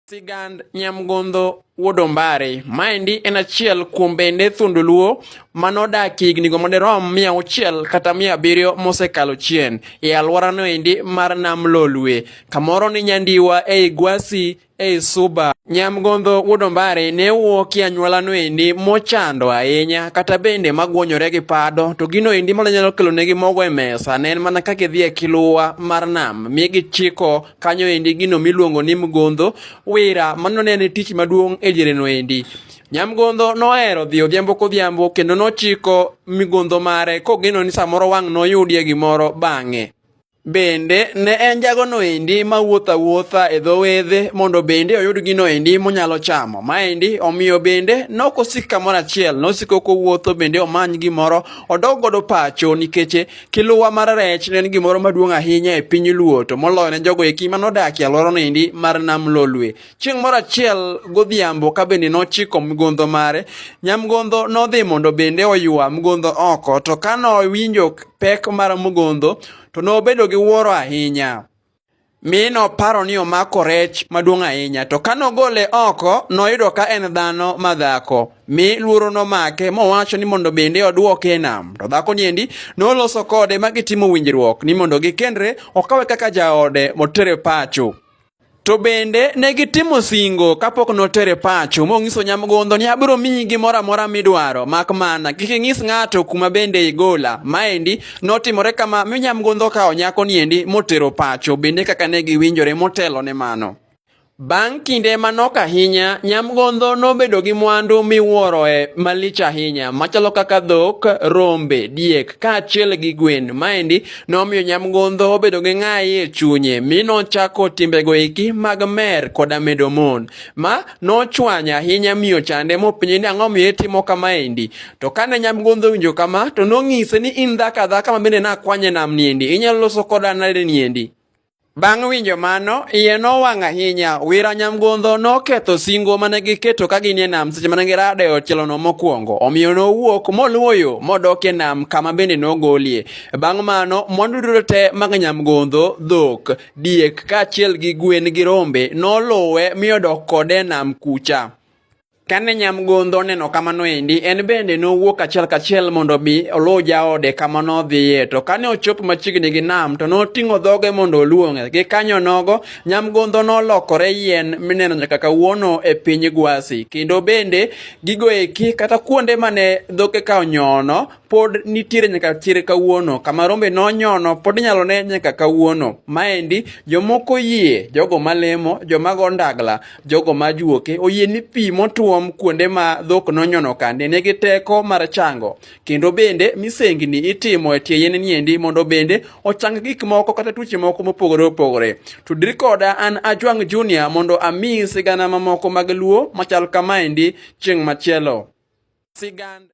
Sigand Nyamgondho Wuod Ombare. Maendi en achiel kuom bende thuond Luo ma nodak hignigo madirom mia auchiel kata mia abiriyo mosekalo chien e alworano endi mar Nam Lolwe, kamoro ni Nyandiwa ei Gwasi ei Suba. Nyamgondho Wuod Ombare ne wuok e anyuolano endi mochando ahinya kata bende magwonyore gi pado to gino endi manyalo kelonegi mogo e mesa ne en mana kaka idhi e kiluwa mar nam mi gichiko kanyo endi gino miluongo ni mgondho wira mano ne tich maduong' e jereno endi Nyamgondho nohero dhi odhiambo kodhiambo kendo nochiko migondho mare kogeno ni samoro wang' noyudie gimoro bang'e. Bende ne en jagono endi ma wuotho awuotha e dho wedhe mondo bende oyud gino endi monyalo chamo. Maendi omiyo bende nokosik kamoro achiel, nosiko kowuotho bende omany gimoro odog godo pacho nikech Kiluwa mar rech ne en gimoro maduong' ahinya e piny Luo to moloyo ne jogo eki ma nodak e alworano endi mar Nam Lolwe. Chieng' moro achiel godhiambo ka bende nochiko mgondho mare, nyamgondho nodhi mondo bende oywa mgondho oko to ka nowinjo pek mar mgondho to nobedo gi wuoro ahinya. mi noparo ni omako rech maduong' ahinya. To ka nogole oko, noyudo ka en dhano madhako, mi luoro nomake mowacho ni mondo bende odwoke e nam. To dhako niendi noloso kode ma gitimo winjruok ni mondo gikendre okawe kaka jaode motere pacho. To bende ne gitimo singo kapok notere pacho mong'iso nyamgondo ni abiro miyi gimoro amora midwaro mak mana kik ing'is ng'ato kuma bende igola. Maendi Notimore kama mi nyamgodho okawo nyako niendi motero pacho bende kaka ne giwinjore motelo ne mano. Bang' kinde manok ahinya, nyamgodho nobedo gi mwandu miwuoroe malich ahinya machalo kaka dhok, rombe, diek kaachiel gi gwen. Maendi nomiyo nyamgodho obedo gi ng'ayi e chunye mi nochako timbego eki mag mer koda medo mon, ma nochwanya ahinya mi ochande mopenje ni ang'o miyo itimo kamaendi. To kane nyamgodho owinjo kama, to nong'ise ni in dhako adhaka ma bende nakwanye nam niendi, inyalo loso koda nade niendi? Bang' winjo mano, iye nowang' ahinya. Wira nyamgodho noketho singo mane giketo ka ginie nam seche mane girado e otielono mokwongo. Omiyo nowuok moluwo yo modok e nam kama bende nogolie. Bang' mano, mwandu duto te mag nyamgodho, dhok, diek kaachiel gi gwen gi rombe noluwe mi odok kode e nam kucha. Kane nyamgodho oneno kamano endi, en bende nowuok achiel kachiel mondo obi oluw jaode kama nodhiye. To kane ochopo machiegni gi nam, to noting'o dhoge mondo oluong'e. Gi kanyo nogo, nyamgodho nolokore yien mineno nyaka kawuono e piny Gwasi. Kendo bende gigo eki kata kuonde mane dhoke ka onyono pod nitiere nyaka chir kawuono. Kama rombe nonyono pod inyalo ne nyaka kawuono. Maendi jomoko yie, jogo malemo, joma go ndagla, jogo ma juoke oyie ni pi motuom kuonde ma dhok nonyono kande nigi teko mar chango kendo bende misengni itimo e tie yien niendi mondo bende ochang gik moko kata tuoche moko mopogore opogore tudri koda an ajwang' junior mondo ami sigana mamoko mag luo machal kamaendi chieng' machielo sigand